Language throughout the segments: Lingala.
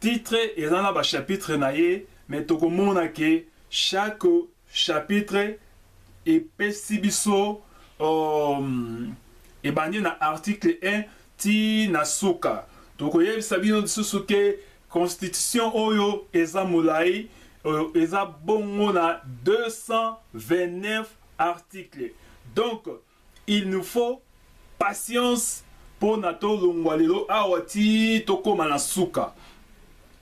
Titre eza na ba chapitre na ye mais toko mona ke chaque chapitre epesi biso um, ebandi na article 1 ti na suka toko yebisa bino lisusu ke constitution oyo eza molai euh, eza bongo na 229 article donc Il nous faut patience pona to longwa lelo awa ti to koma na suka.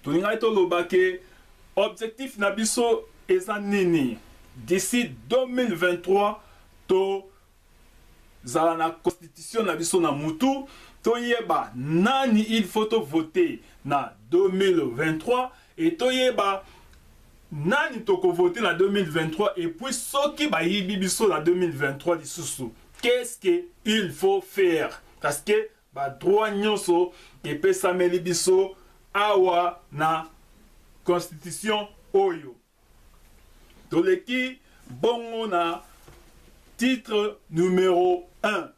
To lingaki to loba ke objectif na biso eza nini? D'ici 2023 to zala na constitution na biso na mutu, to yeba nani il faut to voter na 2023 et to yeba Nani toko voter na 2023 et puis soki bayibi biso na 2023 lisusu qu'est-ce que il faut faire parce que ba droits nionso epesameli biso awa na constitution oyo toleki bongo na titre numero un.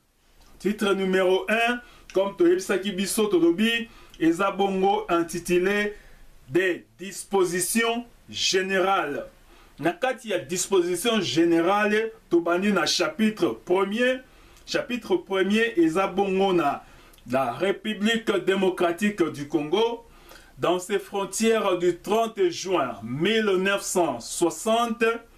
Titre numero un, comme toyebisaki biso, tolobi eza bongo intitulé des dispositions générales. Na kati ya disposition générale tobandi na chapitre premier. Chapitre premier eza bongo na la République démocratique du Congo dans ses frontières du 30 juin 1960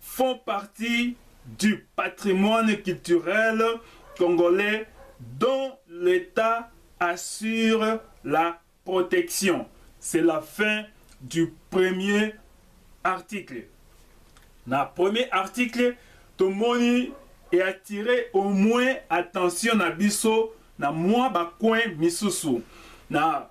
font partie du patrimoine culturel congolais dont l'Etat assure la protection, c'est la fin du premier article. Na premier article tomoni e attirer au moins attention na biso na mua ba coins misusu na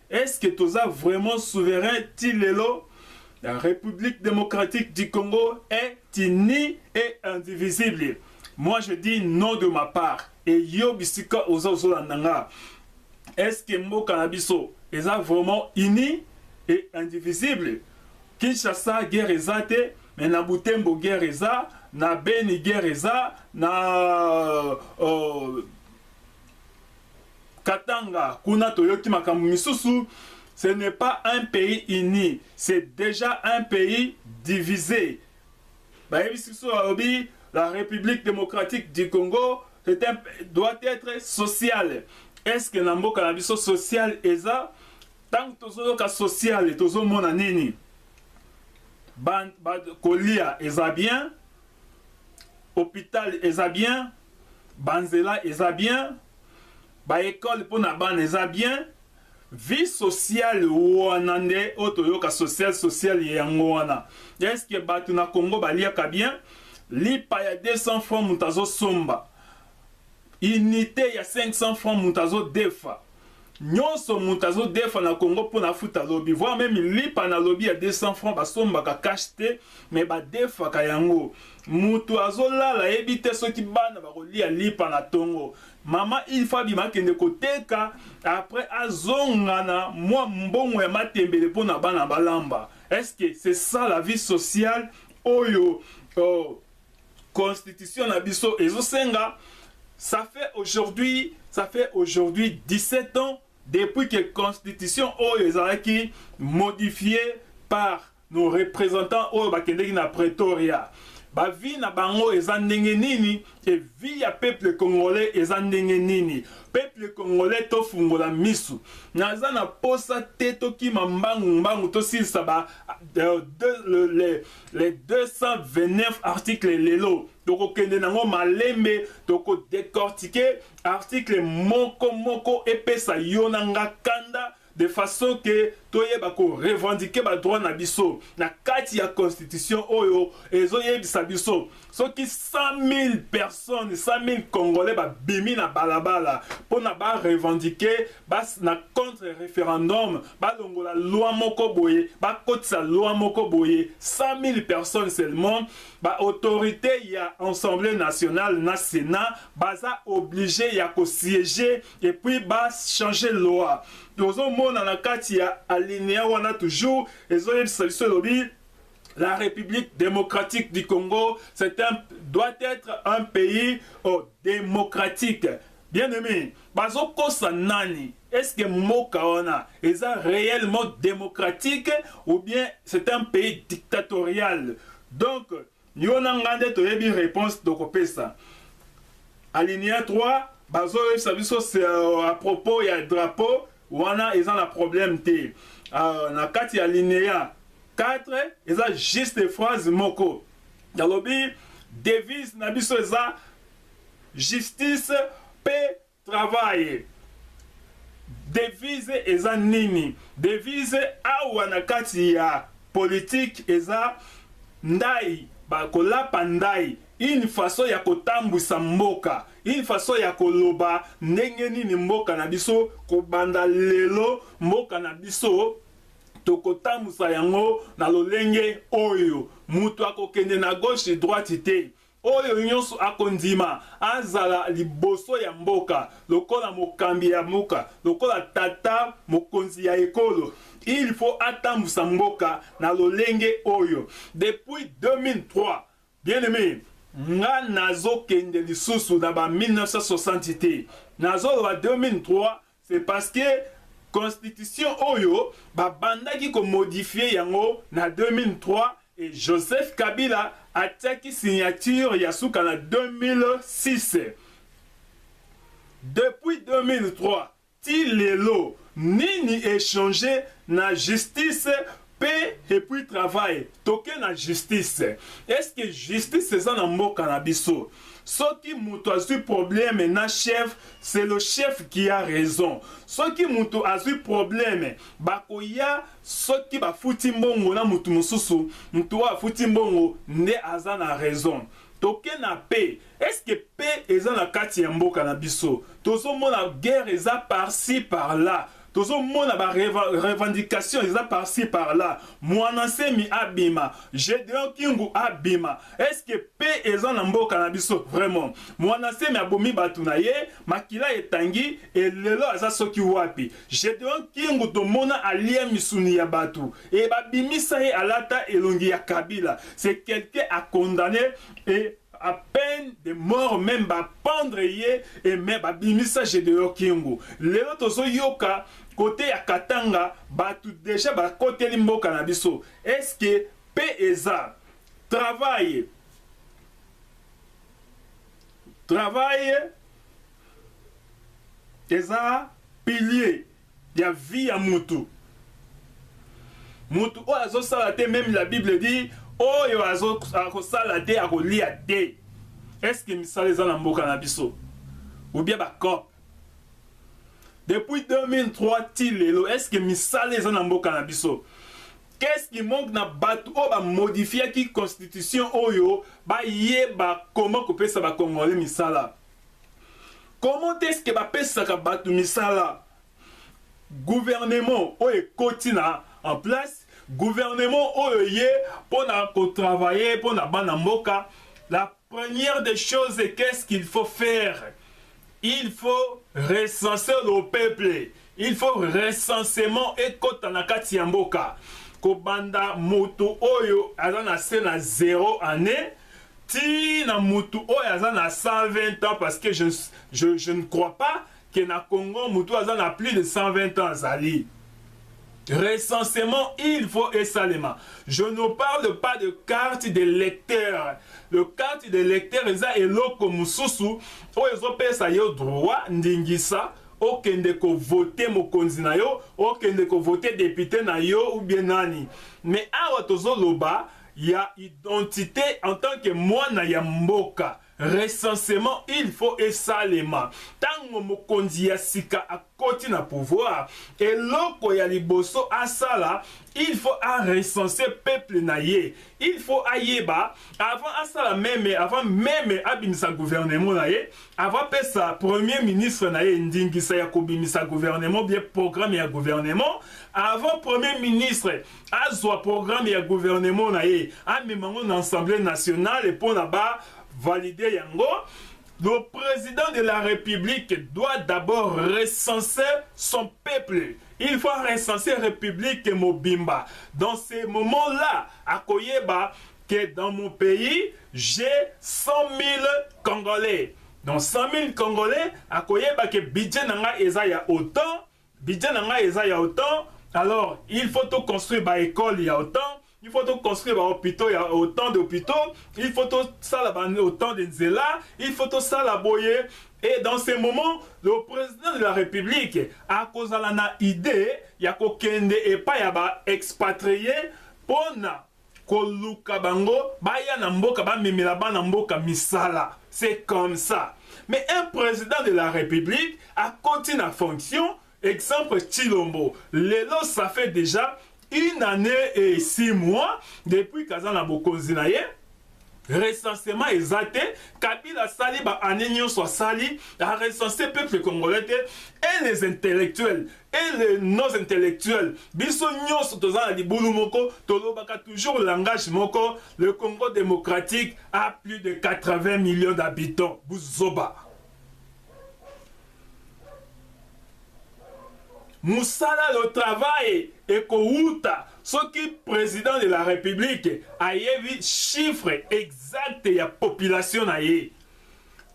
Est-ce que toza vraiment souverain ti lelo? La République démocratique du Congo est unie et indivisible. Moi je dis non de ma part. Et yo bisika oza ozola nanga. Est-ce que mboka na biso eza vraiment unie et indivisible? Kinshasa guerre eza te, mais na Butembo guerre eza, na Beni guerre eza, na euh, Katanga kuna toyoki makambo misusu ce n'est pas un pays uni c'est dejà un pays divise bayebisi biso balobi la république démocratique du Congo c'est un doit être sociale est ce que na mboka na biso sociale eza ntango tozoyoka sociale tozomona nini ba, ba, kolia eza bien hopital eza bien ba nzela eza bien ba ecole mpo na bana eza bien vie sociale wana nde oyo toyoka social social ye yango wana eske bato na congo baliaka bien lipa ya 200 franc moto azosomba Unite ya 500 francs mutu azo defa nionso mutu azo defa na Congo pona afuta lobi voir meme lipa na lobi ya 200 francs ba sombaka cash te mais ba defaka yango mutu azo lala ayebi te soki bana bako lia lipa na tongo mama il faut abima akende koteka après azonga na mwa mbongo ya matembele pona bana balamba est ce que c'est ça la vie sociale oyo oh, constitution na biso ezosenga ça fait aujourd'hui ça fait aujourd'hui 17 ans depuis que constitution oyo ezalaki modifié par nos représentants oyo bakendeki na pretoria bavi na bango eza ndenge nini e vi ya peuple congolais eza ndenge nini peuple congolais tofungola misu naza na posa te tokima mbangu mbangu tosilisa ba euh, de, le, le, Les 229 articles lelo tokokende nango malembe toko décortiquer article moko moko epesa yo na nga kanda de façon que toyeba ko revendiquer ba droit na biso na kati ya constitution oyo ezoyebisa biso Soki 100.000 personnes, 100.000 congolais ba bimi na balabala pona ba revendiquer ba na contre referendum ba longola loi moko boye ba kotisa loi moko boye 100.000 personnes seulement ba autorite ya ensemble nationale na senat baza oblige ya ko sieger et puis ba changer loi tozomona na kati ya alinea wana toujours ezoyebisa biso elobi La République démocratique du Congo, c'est un, doit être un pays oh, démocratique. Bien aimé, bazo kosa nani? Est-ce que Moka wana est réellement démocratique ou bien c'est un pays dictatorial? Donc, yo na ngande toyebi réponse tokopesa. Alinéa 3, bazo yebisa biso c'est euh, à propos ya drapeau Wana eza na problème te. Uh, na kati ya linea 4 eza juste phrase moko nalobi devise na biso eza justice pe travail devise eza nini devise awa na kati ya politike eza ndai bakolapa ndai Une façon ya ko tambwisa mboka, une façon ya ko loba ndenge nini mboka na biso ko banda lelo mboka na biso toko tambwisa yango na lolenge oyo mutu ako kende na gauche droite te, oyo nionso ako ndima azala liboso ya mboka lokola mokambi ya mboka, lokola tata mokonzi ya ekolo il faut atambwisa mboka na lolenge oyo depuis 2003. Bien aime nga nazo kende lisusu na ba 1960 te nazo loba 2003 c'est parce que constitution oyo ba bandaki ko modifier yango na 2003 et Joseph Kabila atiaki signature ya suka na 2006 depuis 2003 Ti lelo nini e change na justice pe epuis travail toke na justice est ce que justice eza na mboka na biso soki mutu azui probleme na chef c'est le chef qui a raison soki mutu azui probleme bakoya soki bafuti mbongo na mutu mususu mutu oyo afuti mbongo nde aza na raison toke na paix Est ce que paix eza na kati ya mboka na biso? Tozo mona guerre eza par ci par là, tozo mona ba revendications eza par ci par là, muana nsemi abima, Gedeon Kingu abima, est ce que paix eza na mboka na biso? Vraiment muana nsemi abomi batu na ye, makila etangi et lelo aza soki wapi? Gedeon Kingu tomona alia misuni ya batu et babimisa ye alata elongi ya Kabila, c'est quelqu'un à condamner et A peine de mort meme ba pendre ye et mais ba bimisa Gedeon Kingu. Lelo tozo yoka cote ya Katanga batu dejà ba koteli mboka na biso. Est ce que paix eza? Travail Travail eza pilier. ya vie ya mutu mutu oyo azo sala te meme la bible dit oyo azo akosala te akolia te est ce que misala eza na mboka na biso ou bien ba cop depuis 2003 ti lelo est ce que misala eza na mboka na biso qu'est-ce qui manque na bato oyo bamodifiaki constitution oyo bayeba comment kopesa bakongole misala comment est ce que bapesaka bato misala gouvernement oyo ekoti na en place gouvernement oyo ye mpo na kotravaille mpo na bana mboka la première des choses qu'est ce qu'il faut faire il faut recenser le peuple Il faut recensement ekota na kati ya mboka kobanda mutu oyo aza na se na zero annee ti na mutu oyo aza na 120 ans parce que je, je, je ne crois pas que na Congo mutu aza na plus de 120 ans azali Recensement, il faut esalema. Je ne parle pas de carte de lecteur. Le carte de lecteur eza eloko mususu oyo ezopesa yo droit ndingisa okende ko vote mokonzi na yo okende ko vote depute na yo ou bien nani mais awa tozo loba ya identite en tant que mwana ya mboka recensement il faut esalema tango mokonzi ya sika akoti na pouvoir eloko ya liboso asala il faut a recense peuple na ye il faut ayeba avant asala meme avant meme abimisa gouvernement na ye Avant apesa premier ministre na ye ndingisa ya kobimisa gouvernement bien programme ya gouvernement, avant premier ministre azwa programme ya gouvernement na ye amema yango na assemblee nationale mpo na ba valider yango, le president de la republique doit d'abord recenser son peuple il faut recenser république mobimba dans ces moments là akoyeba que dans mon pays j'ai 100.000 congolais donc 100.000 congolais akoyeba que budget na nga eza ya autant budget na nga eza ya autant alors il faut to construire ba école ya autant il faut construire ba hôpitaux ya autant d'hôpitaux il faut to sala ba autant de nzela il faut to sala boye et dans ces moments le président de la république akozala na idée ya kokende epai ya ba expatriés pona Koluka bango baya na mboka ba memela bana mboka misala c'est comme ça mais un president de la republique akoti na fonction exemple tshilombo lelo ça fait dejà une annee et six mois depuis qu'aza na bokonzi na ye Recensement eza te, kabila asali ba annee nionso asali a recenser peuple congolais te et les intellectuels et les nos intellectuels biso nionso toza na libulu moko tolobaka toujours langage moko le Congo démocratique a plus de 80 millions d'habitants buzoba musala le travail ekowuta soki president de la republique ayebi chiffre exact ya population na ye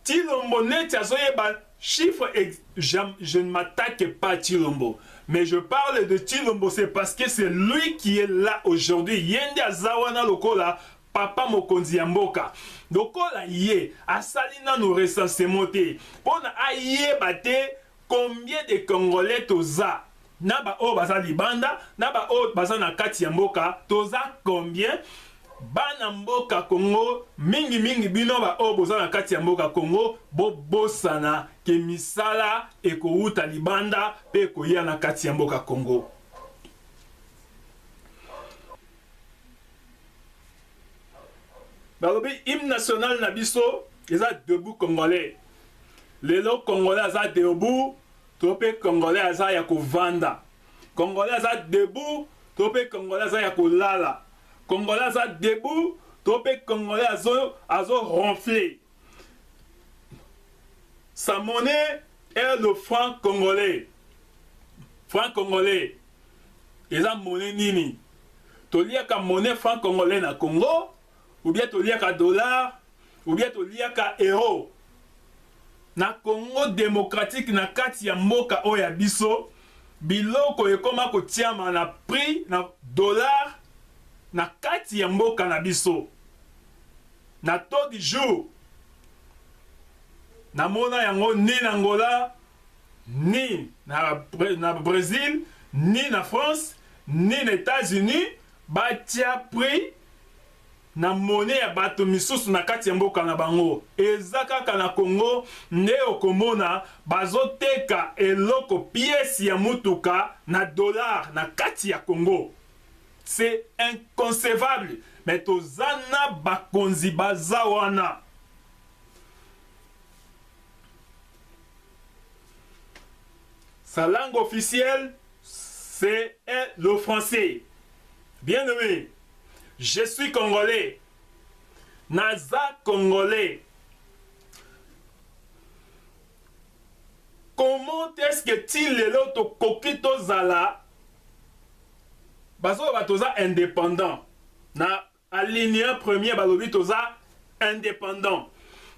tilombo neti azoyeba chiffre ex... je, je ne m'attaque pas Chilombo, mais je parle de Chilombo, c'est parce que c'est lui qui est là aujourd'hui. Yende Azawana Lokola Papa mokonzi ya mboka lokola ye asali nanu recensement te pona ayeba te combien de congolais toza na ba oyo baza libanda na ba oyo baza na kati ya mboka toza combien bana mboka congo mingi mingi bino ba oyo boza na kati ya mboka congo bobosana ke misala ekowuta libanda pe ekoya na kati ya mboka congo balobi hymne national na biso eza debout congolais lelo congolais aza debout to mpe congolais aza ya kovanda congolais aza debout to mpe congolais aza ya kolala congolais aza debout to mpe congolais azo, azo ronfle Sa monnaie est le franc congolais. Franc congolais eza monnaie nini? Toliaka monnaie franc congolais na Congo ou bien toliaka dollar ou bien toliaka euro. Na Congo démocratique na kati ya mboka oyo ya biso biloko ekoma kotiama na prix na dollar na kati ya mboka na biso. Na taux du jour na mona yango ni na Angola ni na, na Brésil ni na France ni na États-Unis batia prix na mone ya bato misusu na kati ya mboka na bango. Eza kaka na Congo nde okomona bazoteka eloko pièce ya mutuka na dollar na kati ya Congo. C'est inconcevable mais toza na bakonzi baza wana Sa langue officielle, c'est le français. Bien aimé, je suis congolais. Naza congolais. Comment est-ce que ti lelo tokoki tozala bazoloba toza indépendant na alinéa premier balobi toza indépendant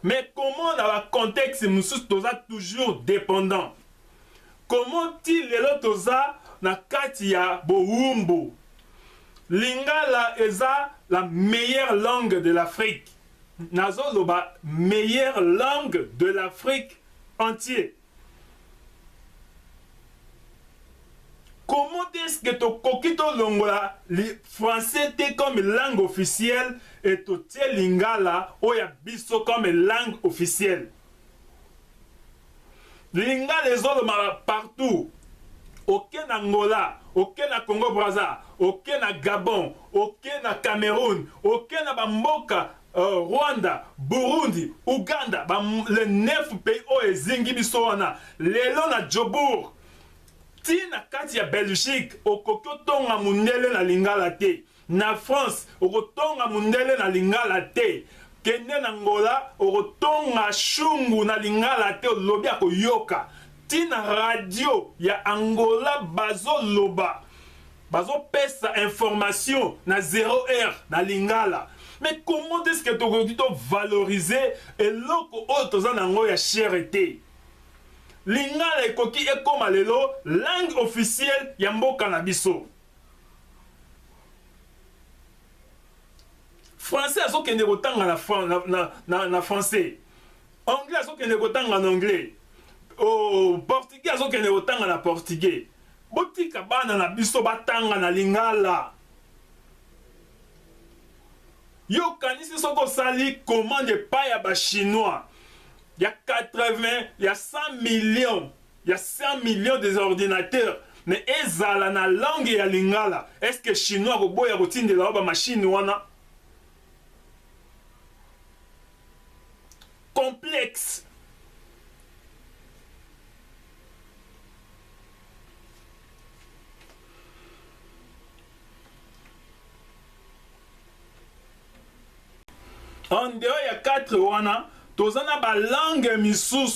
mais comment na bacontexte mosusu toza toujours dépendant comment ti lelo toza na kati ya bowumbu lingala eza la meilleure langue de l'afrique Nazo loba meilleure langue de l'Afrique entier. Comment est-ce que tokoki tolongola français te comme langue officielle et totie lingala oyo ya biso comme langue officielle? lingala ezoloma partout oke na ngola oke na congo braza oke na gabon oke na cameroun oke na bamboka uh, rwanda burundi uganda ba, le nef pays oyo ezingi biso wana lelo na jobourg ti na kati ya belgique okoki otonga mondele na lingala te Na France okotonga mundele na lingala te kende na Angola okotonga shungu na lingala te olobi akoyoka ti na radio ya Angola bazo loba bazo pesa information na zero heure na lingala mais comment est-ce que tokoki to valoriser eloko oyo toza na yango ya chere te lingala ekoki ekoma lelo langue officielle ya mboka na biso français azokende kotanga na, na, na, na, na français anglais azokende kotanga na anglais oh, portugais azokende kotanga na portugais botika bana na biso batanga na lingala yo okanisi soki osali commande epai ya bachinois ya 80 ya 100 millions ya 100 millions des ordinateurs mais ezala na langue ya lingala est ce que chinois akoboya kotindela yo ba machine wana complexe en dehors ya 4 wana toza na balangue misusu